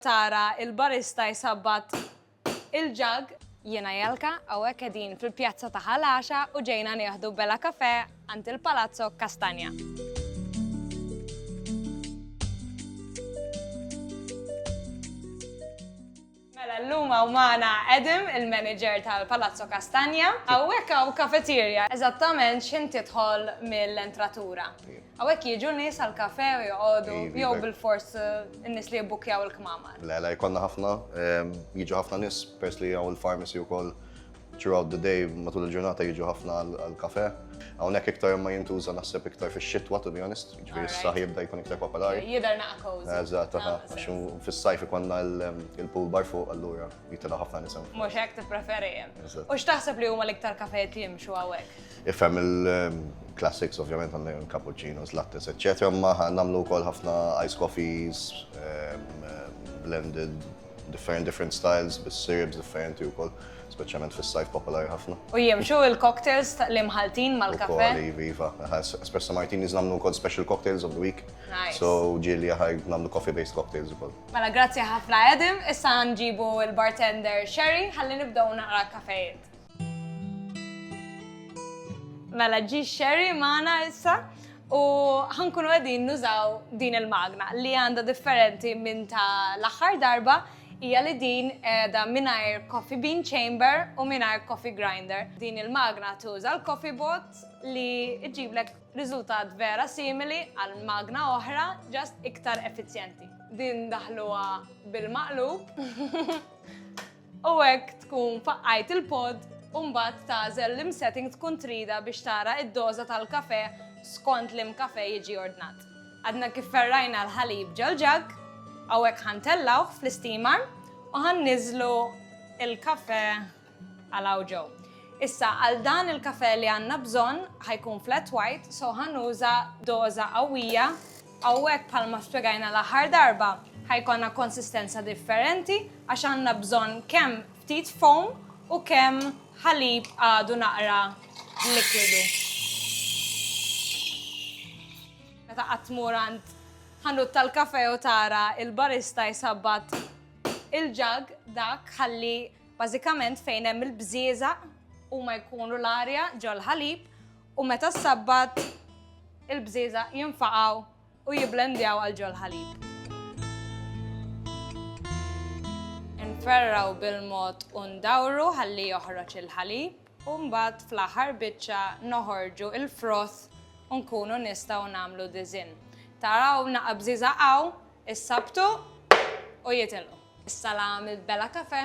Tara il-barista jsabbat il-ġagg. Jiena Jelka, hawnhekk qegħdin fil-pjazza ta' Ħal Għaxa u ġejna nieħdu bella kafè għand il-Palazzo Castagna. Mela llum hawn magħna Adam, il-manager tal-Palazzo Castagna. Hawnhekk hawn kafeterja, eżattament x'ħin tidħol mill-entratura. Hawnhekk jiġu nies għal kafe u joqogħdu jew bilfors in-nies li jibbukkjaw il-kmamar? Le, le, jkollna ħafna, ehm, jiġu ħafna nies pers li hawn il-pharmacy wkoll throughout the day matul il-ġurnata jiġu ħafna għal kafe. Hawnhekk iktar ma jintuża naħseb iktar fix-xitwa to be honest, ġifieri s-saħ jibda jkun iktar popolari. Jidher naqqa Eżatt, ah, għax fis-sajf ikonna ehm, il-pool bar fuq allura jitilgħu ħafna nisem. Mhux hekk tippreferi. U x'taħseb li huma l-iktar kafejiet li jimxu hawnhekk? Ifhem il-classics ovvjament għandna cappuccinos, lattes, eċċetera, imma nagħmlu wkoll ħafna ice coffees, blended, different different styles, bis-syrups differenti wkoll, speċjalment fis-sajf popolari ħafna. U jimxu il-cocktails li mħaltin mal-kafe? Ukoll, iva. Espresso martinis nagħmlu wkoll special cocktails of the week. Nice. So ġieli aħaj nagħmlu coffee-based cocktails ukoll. Mela grazzi ħafna Adam, issa nġibu l-bartender Sherry ħalli nibdew naqra kafe. Mela ġi xerri maħna issa u ħankunu għedin nużaw din il-magna li għanda differenti minn ta' l-axar darba hija li din da mingħajr coffee bean chamber u mingħajr coffee grinder. Din il-magna tuża l-coffee bot li ġiblek riżultat vera simili għal magna oħra ġast iktar effiċjenti. Din daħluha bil-maqlub. U hekk tkun faqqajt il-pod u mbagħad tagħżel l-imsetting tkun trida biex tara d-doża tal-kafè skont l-im kafè jiġi ordnat. Għadna kif ferrajna l-ħalib ġol-ġagg, hawnhekk ħa ntellgħuh fl-isteamer u ħa nniżżlu l-kafè għal hawn ġo. Issa għal dan il-kafè li għandna bżonn ħa jkun flat white so ħa nuża doża qawwija Hawnhekk bħalma spjegajna l-aħħar darba, ħa jkollna konsistenza differenti għax għandna bżonn kemm ftit foam u kemm ħalib għadu naqra likwidu. Meta qatt tmur għand ħanut tal-kafe u tara il-barista jsabbat il-ġag dak ħalli bażikament fejn hemm il-bżieżaq huma jkunu l-arja ġol-ħalib U meta s-Sabbat, il-bżieżaq jinfaqgħu u jibblendjaw għal ġol-ħalib. Inferrgħu bil-mod u ndawru ħalli joħroġ il-ħalib, u mbagħad fl-aħħar biċċa noħorġu l-froth u nkunu nistgħu nagħmlu diżinn. Taraw naqa' bżieżaq hawn, issabtu u jitilqu. Is-salam il-Bella Café